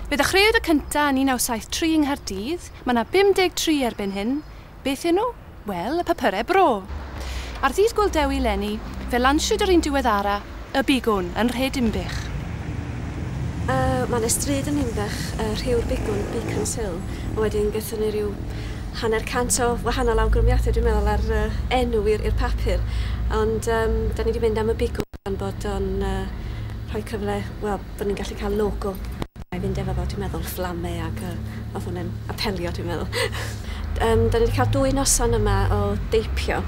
Fe ddechreuwyd y cynta yn 1973 yng Nghaerdydd, mae 'na 53 erbyn hyn, beth yw nhw? Wel, y papyrau bro! Ar ddydd Gŵyl Dewi 'leni, fe lansiwyd yr un diweddara, Y Bigwn, yn nhre Dinbych. Mae 'na stryd yn Ninbych, Rhiw'r Bigwn, Beacon's Hill, a wedyn gaethon ni ryw hanner cant o wahanol awgrymiadau dwi'n meddwl ar enw i'r papur, ond 'da ni 'di mynd am Y Bigwn gan bod o'n rhoi cyfle, wel, fod ni'n gallu cael logo. Mae'n mynd efo fo, dwi'n meddwl, fflame ac yy, oedd hwnna'n apelio, dwi'n meddwl. um, da ni wedi cael dwy noson yma o deipio,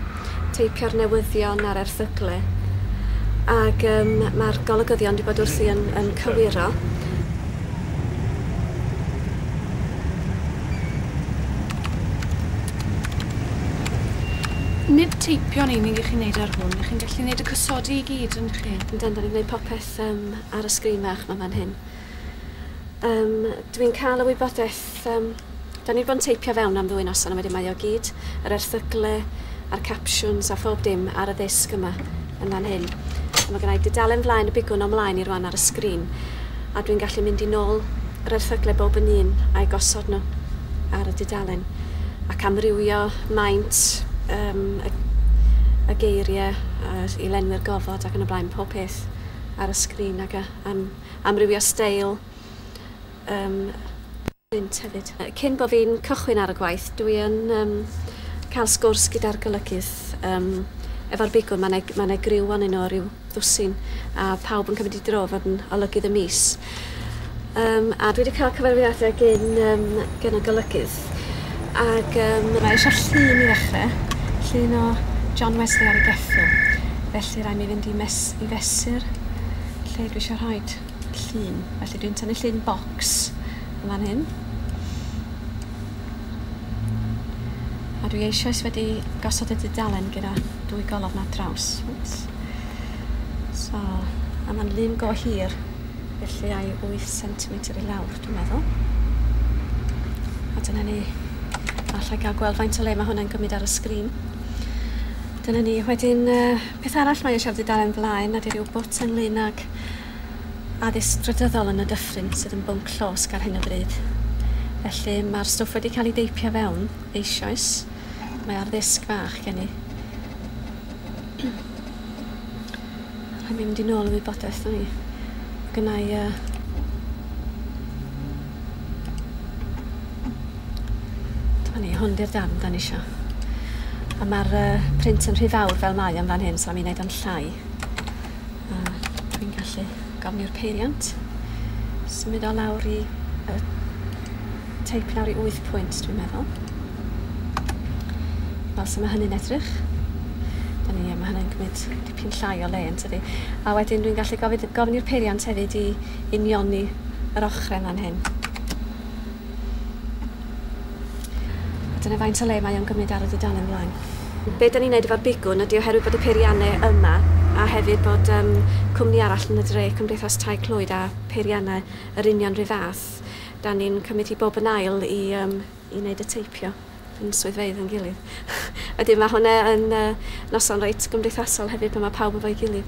teipio'r newyddion a'r erthygle. Ac um, mae'r golygyddion wedi bod wrthi yn, yn cywiro. nid teipio'n unig i chi'n neud ar hwn, i chi'n gallu neud y cysodi i gyd yn chi. Yndan, da ni'n gwneud popeth. Yym, ar y sgrin fach 'ma fan hyn. Yym, dw i'n cael y wybodaeth, yym, dan ni 'di bod yn teipio fewn am ddwy noson a wedyn mae o gyd, yr erthygle a'r capsiwns a phob dim ar y ddisg yma, yn fan hyn. A mae gynna i dudalen flaen y bigwn o mlaen i rwan ar y sgrin, a dwi'n gallu mynd i nôl yr erthygle bob yn un a'u gosod nhw ar y dudalen, ac amrywio maint yym y y geiriau a'r i lenwi'r gofod ac yn y blaen, pob peth. ffit ar y sgrin ac a, am amrywio steil um, print hefyd. Cyn bod fi'n cychwyn ar y gwaith, dwi yn um, cael sgwrs gyda'r golygydd um, efo'r bigwn, mae'n e, ma e griw o'n un o ryw ddwsin, a pawb yn cymryd i dro fod yn olygydd y mis. Yym a dwi 'di ca'l cyfarwyddiade gin yym gin y golygydd ag yym... Mae eisio llun i ddechre, llun o John Wesley ar ei geffyl, felly rai' mi fynd i mes- i fesur lle dwi isio rhoid llun. Felly dwi'n tynnu llun bocs yn fan hyn. A dwi eisioes wedi gosod y dudalen gyda dwy golofn ar draws. Wps. So, a ma'n lun go hir. Felly ai wyth centimetr i lawr, dwi'n meddwl. A dyna ni. Alla i gael gweld faint o le mae hwnna'n gymryd ar y sgrin. Dyna ni. Wedyn, uh, peth arall mae eisiau wedi dalen blaen, na di rhyw bwt ynglyn ag addysg drydyddol yn y dyffryn sydd yn bwnc llosg ar hyn o bryd. Felly mae'r stwff wedi cael ei deipio fewn eisoes. Mae ar ddisg fach gen i. Rhaid mi mynd i nôl y wybodaeth o'n i. Gynna i uh, Dyma ni, hwn di'r darn da ni isio. A mae'r uh, print yn rhy fawr fel mae yn fan hyn, so am i wneud o'n llai. A dwi'n gallu gofni'r peiriant. Symud o lawr i uh, teip lawr i 8 pwynt, dwi'n meddwl. Fel sy'n mae hynny'n edrych. Da ni, mae hynny'n gwneud dipyn llai o le yn tydi. A wedyn dwi'n gallu gofyn, gofyn i'r peiriant hefyd i unioni yr ochrau yma'n hyn. A dyna faint o le mae o'n gymryd ar y dudalen ymlaen. Be da ni'n neud efo'r bigwn ydy oherwydd bod y peiriannau yma a hefyd bod um, cwmni arall yn y dre, Cymdeithas Tai Clwyd a peiriannau yr union rhyw fath, da ni'n cymryd hi bob yn ail i um, i wneud y teipio yn swyddfeydd yn gilydd. Wedyn mae hwnna yn uh, noson reit gymdeithasol hefyd pan mae pawb efo'i gilydd.